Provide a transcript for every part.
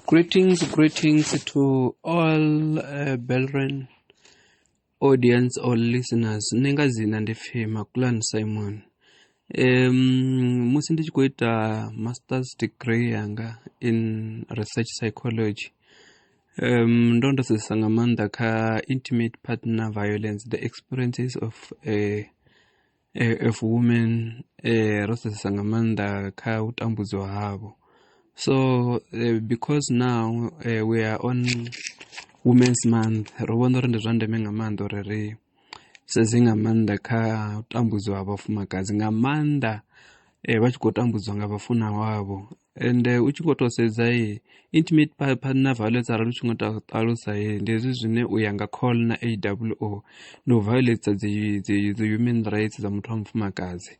Greetings, greetings to all uh, Belren audience or listeners. Ni nga dzina ndi pfi Makulan Simon. Um, musi ndi tshi khou ita master's degree yanga in research psychology Ndo ndo sedzesa nga maanḓa kha intimate partner violence the experiences of of women ro sedzesa nga maanḓa kha u tambudzwa havho, so because now we are on women's month ro vhona uri ndi zwa ndeme nga maanḓa uri ri sedze nga maanḓa kha u tambudziwa ha vhafumakadzi nga maanḓa vha tshi khou tambudzwa nga vhafuna wavho ende u tshi khou tou sedza intimate partner violence arali u tshi ngo ṱalusa ndi hezwi zwine u ya nga call na a w o ndi u violetsa dzi dzi dzi human rights dza muthu wa mufumakadzi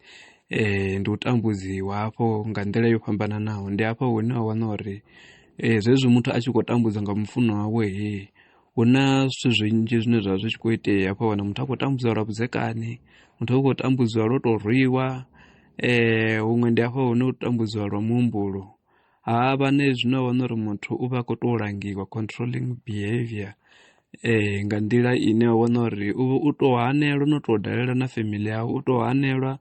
um ndi u tambudziwa hafho nga nḓila yo fhambananaho ndi hafha hune wa wana uri zwezwi muthu a tshi khou tambudzwa nga mufuṅwa wawe he hu na zwithu zwinzhi zwine zwa vha zwi tshi khou itea hafha wana muthu a khou tambudziwa lwa vhudzekani muthu a khou tambudziwa lwo tou rwiwa um huṅwe ndi hafha hune u tambudziwa lwa muhumbulo ha vha na hezwi no wana uri muthu u vha a khou tou langiwa controlling behavior um nga nḓila ine wa wana uri u tou hanelwa no tou dalela na family yawe u tou hanelwa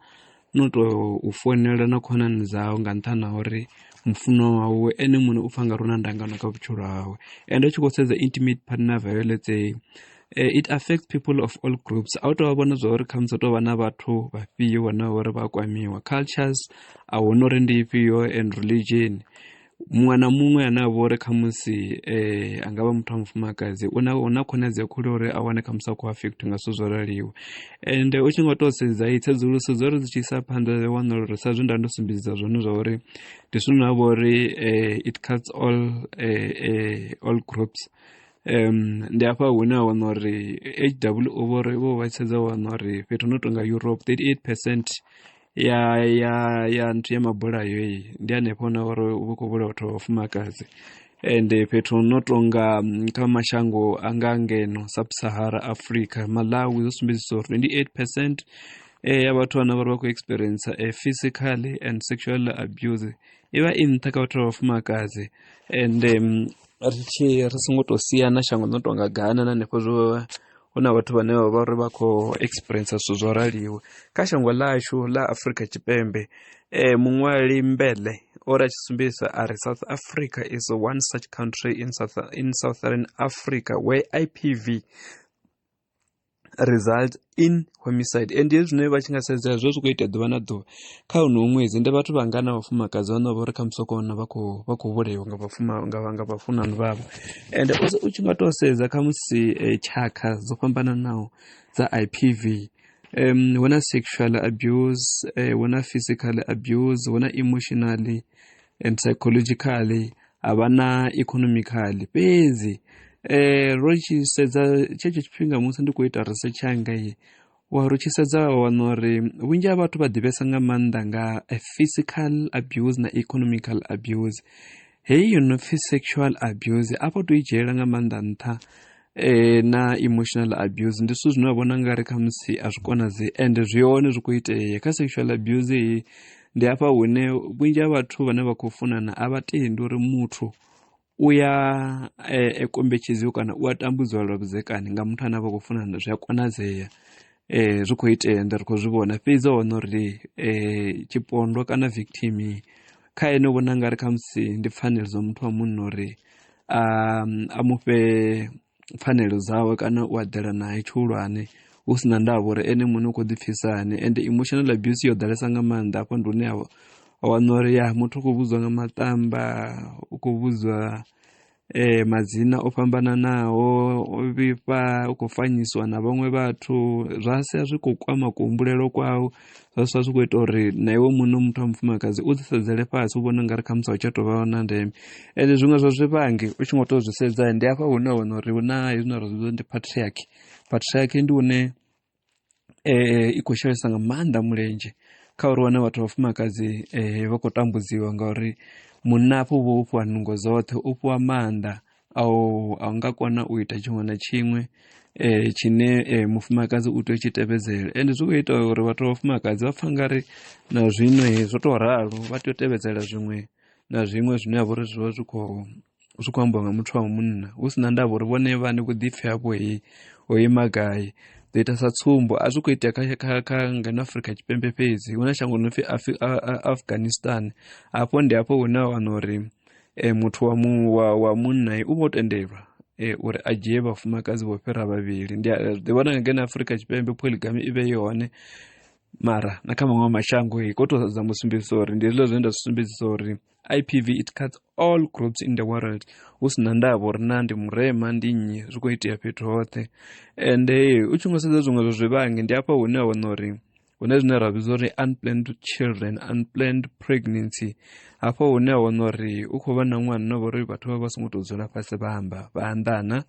no u tou u founela na khonani dzau nga nṱhani ha uri mufunwa wawe ene muṋe u pfha nga ri u na ndangano kha vhutshilo hawe and u tshi khou sedza intimate partner violence eyi Eh, it affects people of all groups a u tou vha vhona zwa uri khamusi tou vha na vhathu vhafhio vhane vha uri vha kwamiwa cultures a huna uri ndi ifhio and religion muṅwe na muṅwe ane a vha uri khamusi um a nga vha muthu wa mufumakadzi u na na khonadzeo khulu uri a wane khamusi a khou afektha nga zwithu zwo raliwa ende u tshi nga tou sedza i tsedzuluso dzo ri dzi tshi isa phanḓa ri wana uri sa zwe nda ndo sumbedzisa zwone zwa uri ndi zwithu na vha uri um it cuts all um all groups um ndi hafha hune a wana uri h w o vho ri vho vha tshedza wana uri fhethu no tonga europe 38 percent ya ya ya nthu ya mabulayo iyi ndi hanefho na uri u vha khou vhulaha vhathu vha vhafumakadzi ende fhethu no tonga mm, kha mashango a nga ngeno sub-sahara africa malawi zwo sumbedzisa uri 28 percent eh, ya vhathu vhana vhari vha khou experience a eh, physical and sexual abuse i vha i nṱha kha vhathu vha vhafumakadzi and um, ri tshi ri songo tou siana shango no tonga gana na hanefho zwo hu na vhathu vhane vha vha uri vha khou experience zwithu zwo raliwe kha shango ḽashu ḽa afrika tshipembe um muṅwali mbele o ri a tshi sumbedzisa a ri south africa is one such country in, South, in southern africa where ipv results in homicide and hezwi zwine vha tshi nga sedza zwo zwi khou itea ḓuvha na ḓuvha kha honoho ṅwedzi ndi vhathu vhanga na vhafumakadzi vhane vha uri kha musi kona vha khou vha khou vhulaiwa nga vhafuma nga nga vhafunani vhavho and also u tshi nga tou sedza kha musi eh, tshakha dzo fhambananaho dza IPV um hu na sexual abuse eh, hu na physical abuse hu na emotionally and psychologically a vha na economically fhedzi um ro tshi sedza tshetsho tshifhinga musi ndi khou ita research yanga ye wa ri tshi sedza wa wana uri vhunzhi ha vhathu vha ḓivhesa nga maanḓa nga physical abuse na economical abuse heyi yo no pfhi sexual abuse a vho to i dzhiela nga maanḓa nṱha e, na emotional abuse ndi zwithu zwine vha vhona ngari khamusi a zwi konadze ende zwi hone zwi khou itea kha sexual abuse iyi ndi hafha hune vhunzhi ha vhathu vhane vha khou funana a vha tendi uri muthu u ya e, e kombetshedziwa kana u a tambudziwa lwa vhudzekani nga muthu ane a vha khou funana zwi a konadzea um zwi khou itea nda ri khou zwi vhona fhedzi hone uri um tshipondwa kana victim kha ene u vhona ngari khamusi ndi pfanelo dza muthu wa munna uri a, a mu fhe pfanelo dzawe kana u aḓela nae tshihulwane hu si na ndavha uri ene muṋe u khou ḓipfhisa hani and emotional abuse yo ḓalesa nga maanḓa afho ndi hune wa wana uri ya muthu u khou vhudzwa nga maṱamba u khou vhudzwa eh, madzina o fhambananaho o vhifha u khou fanyisiwa na vhaṅwe vhathu zwa sia zwi khou kwama kuhumbulelo kwau zwa sala zwi khou ita uri na iwe muṋe muthu wa mufumakadzi u ḓi sedzele fhasi u vhona u nga ri khamusi a u tsha tou vha na ndeme ende zwiṅwe zwa zwivhangi u tshi ngo tou zwi sedza ndi hafha hune wa wana uri hu na hezwi na ra zwi ndi patriarchy patriarchy ndi hune um i khou shelesa nga maanḓa mulenzhe kha uri wane vhathu vhafumakadzi um vha khou tambudziwa ngauri munna afho u vha o fhiwa nungo dzoṱhe u fhiwa maanḓa a u a nga kona u ita tshiṅwe na tshiṅwe eh, tshine eh, mufumakadzi u tea u tshi tevhedzela ende zwi khou ita uri vhathu vha vhafumakadzi vha pfa ngari na zwino he zwo tou ralo vha tea u tevhedzela zwiṅwe na zwiṅwe zwine ha vha uri zwi vha zwi khou zwi khou ambiwa nga muthu wa munna hu si na ndavha uri vhone vhane vhuḓipfi havho he ho ima gai ḓo ita sa tsumbo a zwi khou itea kha, kha, kha ngeno afrika tshipembe fhedzi hu na shango no pfi afghanistan hafho ndi hafho hune a wana uri e, muthu wa, mu, wa, wa munna u vho tendelwa e, uri a dzhie vhafumakadzi vho fhira vhavhili ndi ḓi vhona nga ngeno afurika tshipembe poligami i vhe i hone mara na kha maṅwe mashango i khou tou dza musumbedzisa uri ndi hezwiḽa zwine nda zwi sumbedzisa uri ipv it cuts all groups in the world hu si na ndavha uri na ndi murema ndi nnyi zwi khou itea fhethu hoṱhe ende u tshi nga sedza zwiṅwe zwa zwivhangi ndi afha hune a wana uri hune zwine ra vhidza uri unplanned children unplanned pregnancy hafho hune a wana uri u khou vha na ṅwana no vhori vhathu vha vha songo tou dzula fhasi vha amba vha anḓana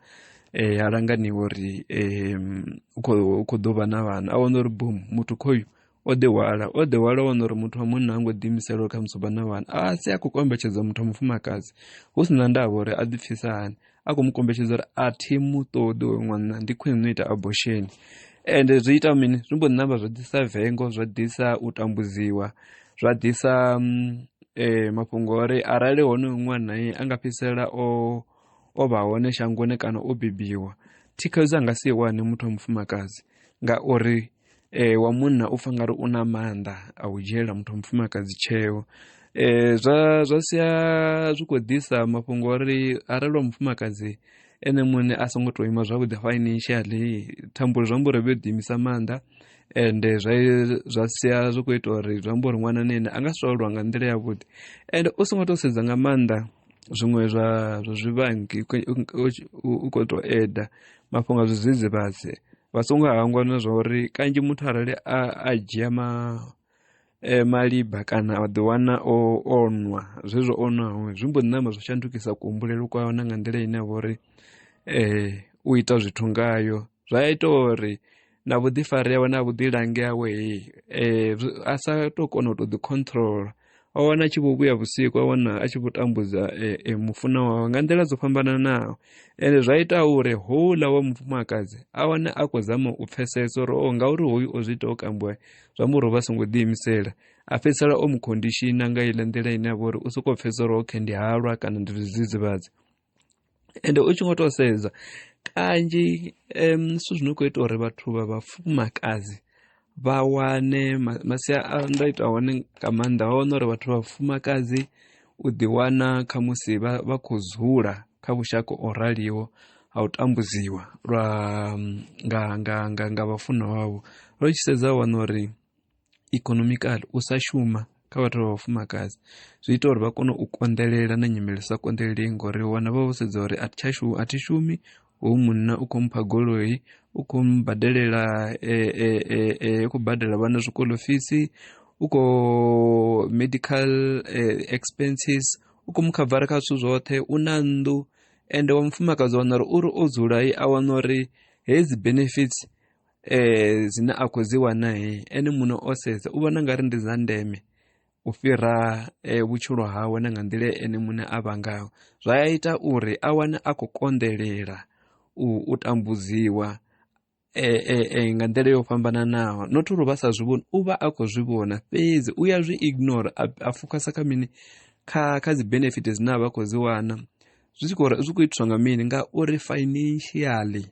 um ha langaniwa uri um u khou ḓo vha na vhana a wana uri bom muthu khoyu o ḓihwala o ḓihwala wana uri muthu wa munna ha ngo ḓiimisela uri kha musi vha na vhana a si a khou kombetshedza muthu wa mufumakadzi hu si na ndavha uri a ḓipfhisa hani a khou mu kombetshedza uri a thi mu ṱoḓi oyo ṅwana ndi khwine no ita abortion ende zwi ita mini zwi mbo ṋamba zwa ḓisa vengo zwa ḓisa u tambudziwa zwa ḓisa mm, eh, mafhungo uri arali hone ṅwana ye a nga fhedzisela o o vha hone shangoni kana o bebiwa thikhedzo a nga si i wane muthu wa mufumakadzi ngauri e, wa munna u pfa ngari u na maanḓa a u dzhiela muthu wa mufumakadzi tsheo e, zwa zwa sia zwi khou ḓisa mafhungo ori arali wa mufumakadzi ene muṋe a songo tou ima zwavhuḓi financially thambulo zwi amba uri vhe ḓiimisa maanḓa and eh, zwa zwa sia zwi kho ita uri zwi amba uri ṅwana na ene a nga si tou aluwa nga nḓila yavhuḓi and u songo to sedza nga maanḓa zwiṅwe zwa zwa zwivhangi u khou tou eda mafhungo a zwidzidzivhadzi vha songo hangwa na zwa uri kanzhi muthu arali a a dzhia ma e, maliba kana a ḓiwana o o nwa zwezwo o nwaho zwi mbo ḓi namba zwo shandukisa kuhumbulelo kwawe na nga nḓila ine ya vha uri um u ita zwithu ngayo zwa ita uri na vhuḓifari yawe na vhuḓilangi hawe eh, a sa to kona u to ḓi controla a wana a tshi vho vhuya vhusiku a wana a tshi vho tambudza eh, eh, mufuna wawe nga nḓila dzo fhambananaho ende zwa ita uri houḽa wa mufumakadzi a wane a khou zama u pfesesa uri o oh, ngauri hoyu o zwi ita o kambiwa zwa mu ro vha songo ḓiimisela a fhedzisela o mu khondishina nga iḽa nḓila ine a vha uri u sokou pfesesa uri okay ndi halwa kana ndi zwidzidzivhadzi ende u tshi ngo to sedza kanzhi zwithu zwi no khou ita uri vhathu vha vhafumakadzi vha wane masia a nda ita hone nga maanḓa vha wana uri vhathu vha vhafumakadzi u ḓi wana kha musi vha vha khou dzula kha vhushaka o raliho ha u tambudziwa lwa nga nga nga nga vhafunwa wavho ro tshi sedza wana uri ikonomikali u sa shuma kha vhathu vha vhafumakadzi zwi ita uri vha kone u konḓelela na nyimele sa konḓeleli ngori wana vha vho sedza uri a thi tsha shuma a thi shumi hoyu munna u khou mpha goloi u khou mbadelela e, e, e, e, u khou badela vhana zwikolo fisi u khou medical expenses u khou mu khavara kha zwithu zwoṱhe u na nnḓu ende wa mufumakadzi wana uri uri o dzula a wana uri hedzi benefits eh dzine a khou dzi wana ene muṋe o sedza u vhona nga ri ndi dza ndeme u fhira eh, vhutshilo hawe na nga nḓila ene muṋe a vha ngayo zwa ya ita uri a wane a khou konḓelela u, u tambudziwa e, e, e, nga nḓila yo fhambananaho not uri vha sa zwi vhoni u vha a khou zwi vhona fhedzi u ya zwi ignore a, a fokasa kha mini kha kha dzi benefit dzine a vha khou dzi wana zwi tshi khou zwi khou itiswa nga mini ngauri financially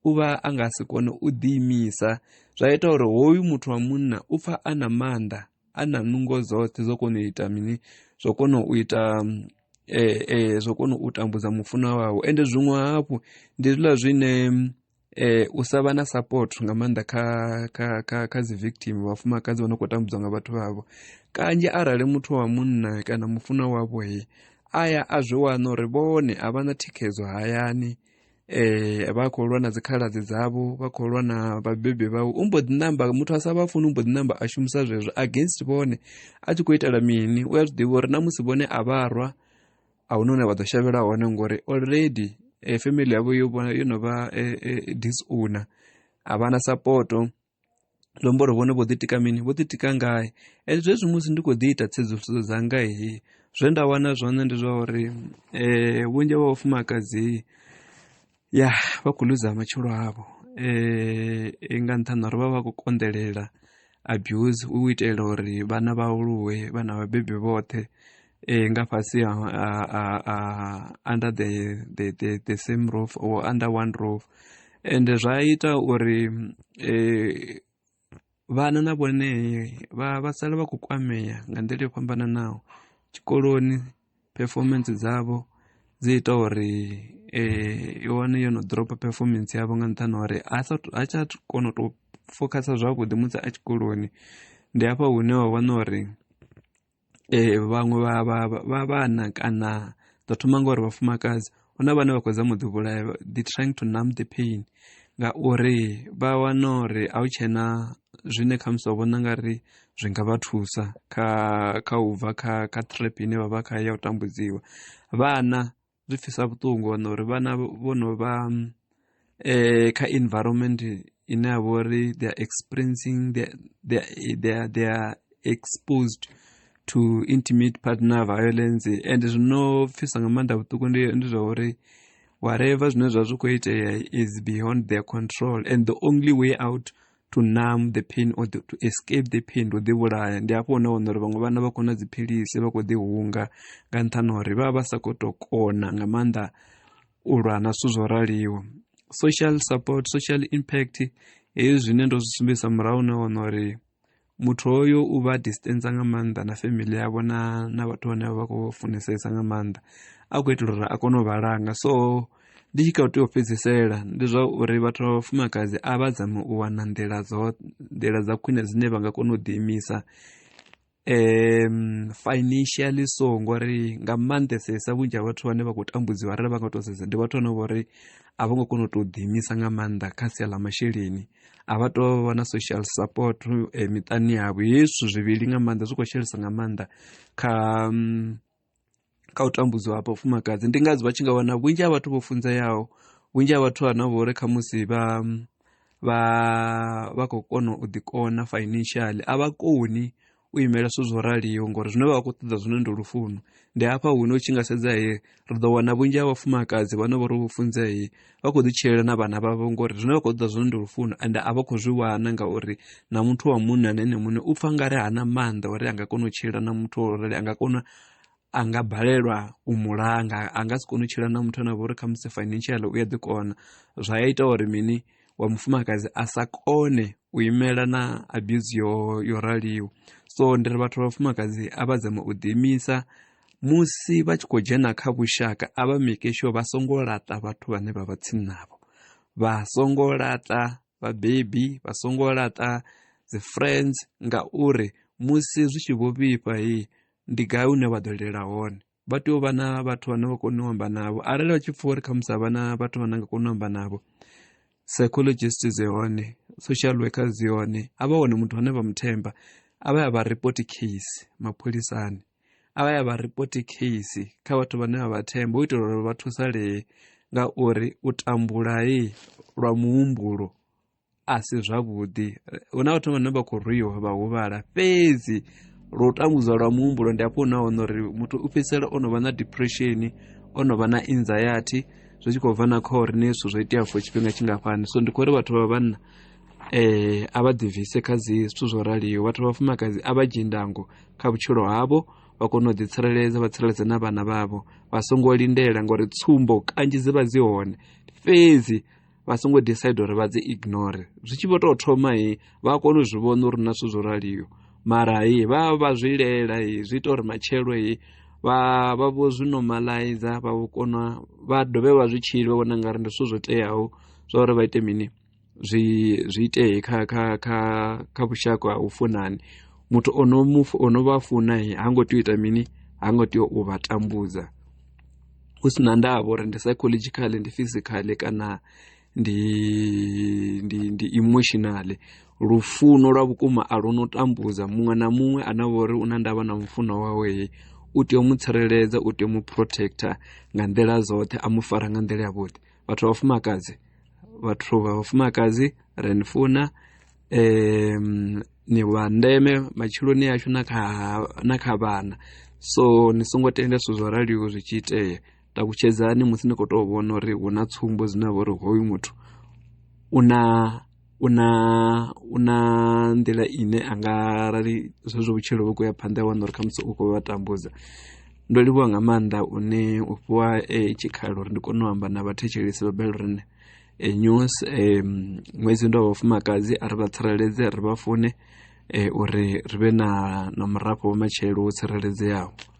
u vha a nga si kone u ḓiimisa zwa ita uri hoyu muthu wa munna u pfa a na maanḓa a na nungo dzoṱhe zwo kona u ita mini zwo kona u ita e, e, zwo kona u tambudza mufuna wawe ende zwiṅwe hafhu ndi zwiḽa zwine eh u sa vha na support nga maanḓa kha kha kha kha dzi victim vhafumakadzi vha no khou tambudzwa nga vhathu vhavho kanzhi arali muthu wa munna kana mufuna wavho he aya a zwi wana uri vhone a vha na thikhedzo hayani eh vha khou lwa na dzikhaladzi dzavho vha khou lwa na vhabebi vhau u mbo ḓi namba muthu a sa vha funi u mbo ḓi namba a shumisa zwezwo against vhone a tshi khou itela mini u a zwi ḓivha uri na musi vhone a vha rwa a huna hune vha ḓo shavhela hone ngori already eh, family yavho yo vhona yo no vha eh, eh, disowner a vha na sapoto zwi amba uri vhone vho ḓitika mini vho ḓitika ngae e zwezwi musi ndi khou ḓi ita tsedzuluso dzanga he zwe nda wana zwone ndi zwa uri um vhunzhi vha vhafumakadzi ya vha khou luza matshilo avho um nga nṱhani uri vha vha khou konḓelela abuse u itela uri vhana vha aluwe vhana vhabebi vhoṱhe eh, nga fhasi ha under the, the, the, the same roof or under one roof and zwa ita uri eh, vhana na vhone vha vha sala vha khou kwamea nga nḓila yo fhambananaho tshikoloni performance dzavho dzi ita uri eh, i wane yo no dropa performance yavho nga nṱhani uri a tsha kona u tou focusa zwavhuḓi musi a tshikoloni ndi hafha hune wa wana uri eh, vhaṅwe vha vha vha vhana kana ḓo thoma ngori vhafumakadzi hu na vhane vha khou dza muḓi vhulaya the trying to numb the pain ngauri vha wana uri a hu tshena zwine kha musi wa vhona nga ri zwi nga vha thusa kha kha u bva kha kha trap ine vha vha kha ya u tambudziwa vhana zwi pfhisa vhuṱungu wana uri vhana vho no vha eh, kha environment ine ya vha uri they are experiencing they, they, they, they are exposed to intimate partner violence and zwino pfhisa nga maanḓa vhuṱuku ndi ndi zwa uri whatever zwine zwa zwi khou itea is beyond their control and the only way out to numb the pain or the, to escape the pain to ḓi vhulaya ndi hafho hune wana uri vhaṅwe vhana vha kona dziphilisi vha khou ḓi hunga nga nṱhani uri vha vha vha sa khou tou kona nga maanḓa u lwa na zwithu zwo raliho social support social impact hezwi zwine ndo zwi sumbedzisa murahu na wana uri muthu hoyo u vha distance nga maanḓa na family yavho na na vhathu vhane vha khou funesesa nga maanḓa a khou itela uri a kone u vha langa so ndi tshi kha u tea u fhedzisela ndi zwa uri vhathu vha vhafumakadzi a vha dzame u wana nḓila dzo nḓila dza khwine dzine vha nga kona u ḓiimisa um financially so ngori nga maanḓesesa vhunzhi ha vhathu vhane vha khou tambudziwa arali vha nga to sedza ndi vhathu vhane vho uri a vho ngo kona u tou ḓiimisa nga maanḓa kha sia ḽa masheleni a vha to vha na social support eh, miṱani yavho hezwi zwithu zwivhili nga maanḓa zwi khou shelesa nga maanḓa kha um, kha u tambudziwa ha vhafumakadzi ndi ngadzo vha tshi nga wana vhunzhi ha vhathu vho funzeaho vhunzhi ha vhathu ana vhori kha musi vha vha vha khou kona u ḓikona financially a vha koni u imela zwithu zwo raliho ngori zwine vha khou ṱoḓa zwone ndi lufuno ndi hafha hune u tshi nga sedza he ri ḓo wana vhunzhi ha vhafumakadzi vhane vho ri vho funzea vha khou ḓi tshilela na vhana vhavho ngori zwine vha khou ṱoḓa zwone ndi lufuno ende a vha khou zwi wana ngauri na muthu wa munna na ene muṋe u pfha nga ri hana maanḓa uri a nga kona u tshila na muthu wa lurali a nga kona a nga balelwa u mulanga a nga si kone u tshila na muthu ane a vha uri kha musi financial u a ḓi kona zwa ya ita uri mini wa mufumakadzi a sa kone u imela na abuse yo, yo raliho so ndi ri vhathu vha vhafumakadzi a vha dzama u ḓiimisa musi vha tshi khou dzhena kha vhushaka a vha mekesho vha songo laṱa vhathu vhane vha vha tsini navho vha songo laṱa vhabebi vha songo laṱa dzi friends ngauri musi zwi tshi vho vhifha hi ndi gai une vha ḓo lela hone vha tea u vha na vhathu vhane vha kona u amba navho arali vha tshi pfha uri khamusi a vha na vhathu vhane nga kona u amba navho psychologist dzi hone social worker dzi hone a vha wane muthu ane vha muthemba a vha ya vha report case mapholisani a vha ya vha ripoti case kha vhathu vhane vha vha themba u itela uri vha thusalee ngauri u tambulai lwa muhumbulo a si zwavhuḓi hu na vhathu vhane vha khou rwiwa vha huvhala fhedzi lwo tambudzwa lwa muhumbulo ndi afho hune wana uri muthu u fhedzisela o no vha na depression o no vha na anxiety zwi tshi khou bva na kha uri ni zwithu zwo itea for tshifhinga tshingafhani so ndi khou uri vhathu vha vhanna eh a vha ḓivise kha dzi zwithu zwo raliho vhathu vha vhafumakadzi a vha dzhie ndango kha vhutshilo havho vha kone u ḓitsireledza vha tsireledze na vhana vhavho vha songo lindela ngori tsumbo kanzhi dzi vha dzi hone fhedzi vha songo decide uri vha dzi ignore zwi tshi vho tou thoma he vha kone u zwi vhona uri na zwithu zwo raliho mara he vha vha zwi lela he zwi ita uri matshelo he vha vha vho zwi normalizer vha vho kona vha dovhe vha zwi tshili vha vhona nga ri ndi zwithu zwo teaho zwa uri vha ite mini zwi zwi itee kha kha kha kha vhushaka ha u funani muthu ono mu ono vha funa ha ngo tea u ita mini ha ngo tea u vha tambudza hu si na ndavha uri ndi psychological ndi physical kana ndi ndi ndi emotional lufuno lwa vhukuma a lu no tambudza muṅwe na muṅwe ane vha uri u na ndavha na mufuno wawe u tea u mu tsireledza u tea u mu protector nga nḓila dzoṱhe a mu fara nga nḓila ya vhuḓi vhathu vha vhafumakadzi vhathu vha vhafumakadzi ri ni funa um ni vha ndeme matshiloni ashu na kha na kha vhana so ni songo tenda zwithu zwo raliho zwi tshi itea takutshedzani musi ni khou tou vhona uri hu na tsumbo dzine vha uri hoyu muthu u na u na u na nḓila ine a nga arali zwezwo vhutshilo vhu khou ya phanḓa ya wana uri khamusi u khou vha tambudza ndo livhuwa nga maanḓa une u fhiwa eh, tshikhala uri ndi kone u amba na vhathetshelesi vha belrine eh, news eh, ṅwedzi ndo vha vhafumakadzi a ri vha tsireledze ri vha fune eh, uri ri vhe na na murafho wa matshelo wo tsireledzeaho